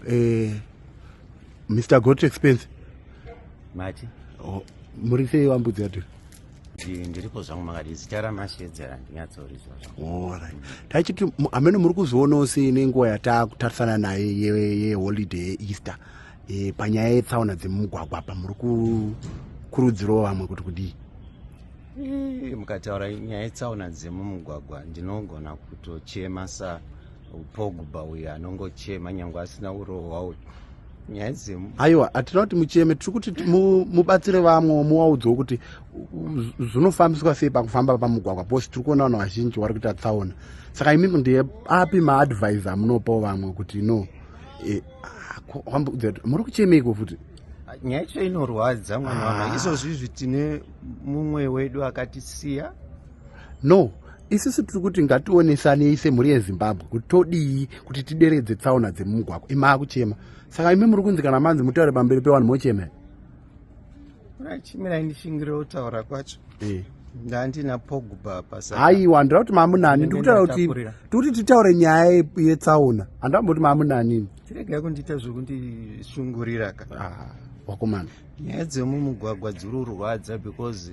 eh, mr got expense mati oh, muri sei vambudzi yato ndiripo zvangu makati zita ramashedzera ndinyatsorizwa zvaorit tachiti amene muri kuzvionawo sei nenguva yataakutarisana naye yeholiday ye yeeaster e, panyaya yetsaona dzemumugwagwa apa muri kukurudzirawo vamwe kuti kudii mukataura nyaya yetsaona dzemumugwagwa ndinogona kutochema sa pogba uyu anongochema nyange asina urohwa uyu nyaya dzemu aiwa hatina kuti mucheme tiri kuti mubatsire vamwe muwaudzwo kuti zvinofambiswa sei pakufamba pamugwagwa bcause tiri kuona vanhu vazhinji vari kuita tsaona saka imi ndiye api maadvise amunopawo vamwe kuti no e, muri kuchemeiko futi nyaya icho inorwadza mwana wanga ah. izvozvizvi tine mumwe wedu akatisiya no isisu tiri kuti ngationesanei semhuri yezimbabwe kuti todii kuti tideredze tsaona dzemumugwagwa imaa kuchema saka imi muri kunzi kana manzi mutaure pamberi pevanhu mochema chimirai ndishingire kutaura kwacho eh. ndandina pogba pasa haiwa ndira kuti mamunani ndikutaura kuti tikuti titaure nyaya yetsaona handamboti mamunanini tiregai kundiita zvekundishungurira ka ah, wakomana nyaya dzemumugwagwa dziri kurwadza because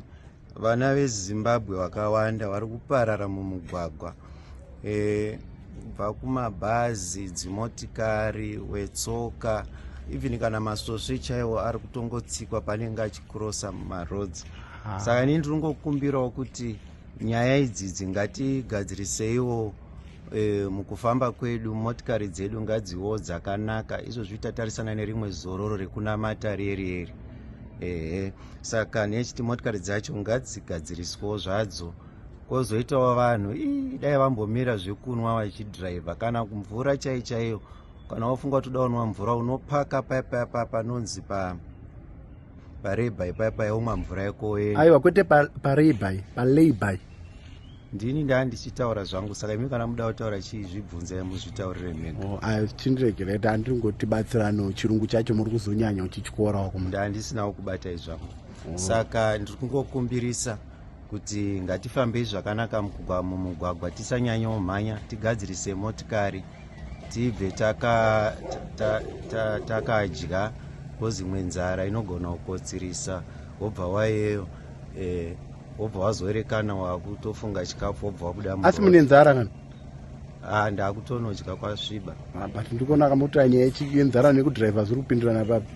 vana vezimbabwe vakawanda vari kuparara mumugwagwa e, kubva kumabhazi dzimotikari wetsoka even kana masvosve chaiwo ari kutongotsikwa panenge achikrosa mumaroads ah. saka ini ndiri ngokumbirawo kuti nyaya idzidzi ngatigadziriseiwo e, mukufamba kwedu motikari dzedu ngadziwo dzakanaka izvo zvitatarisana nerimwe zororo rekunamata rieri eri ehe saka nechiti motikari dzacho ngadzigadziriswawo zvadzo kwozoitawo vanhu ii dai vambomira zvekunwa vachidhiraivha kana mvura chai chaiyo kana wofunga kuti uda unwa mvura unopaka paipai pa panonzi pa parebai paipai womwa mvura yako woenda aiwa kwete parebai palabai pa ndini ndaa ndichitaura zvangu saka imi kana muda kutaura chii zvibvunzai muzvitaurire mega oh, ah, chindiregereta andiri ngoti batsirano chirungu chacho muri kuzonyanya uchichikoorawo kuma ndaa ndisinawo kubatai zvangu oh. saka ndiri kungokumbirisa kuti ngatifambei zvakanaka mumugwagwa tisanyanyawo mhanya tigadzirise motikari tibve takadya ta, ta, ta, ta, ta, bcause imwe nzara inogona kukotsirisa wobva wayeyo eh, wobva wazoerekana wakutofunga chikafu wobva wabuda asi mune nzara kana ah, ndakutonodya kwasviba ah, but ndikuona akamotora nyaya yenzara nekudriver zviri kupindirana papi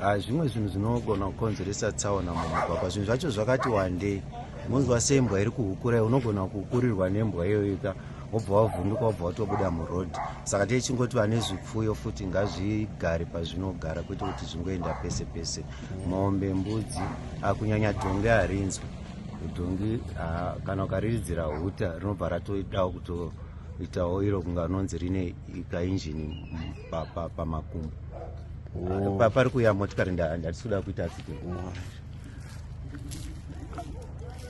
ah, zvimwe zvinhu zvinogona kukonzeresa tsaona mumugwagwa zvinhu zvacho zvakati wandei munzwa sembwa iri kuhukurai unogona kukurirwa nembwa iyoyika wobva wavhunduka wobva watobuda murodhi saka tichingoti vane zvipfuyo futi ngazvigare pazvinogara kwete kuti zvingoenda pese pese mombe mbudzi akunyanya dhongi harinzwi dhongi kana ukariridzira huta rinobva ratoidawo kutoitawo iro kunga unonzi rine kainjini pamakumbo pari kuya motikari ndatisi kuda kuita accident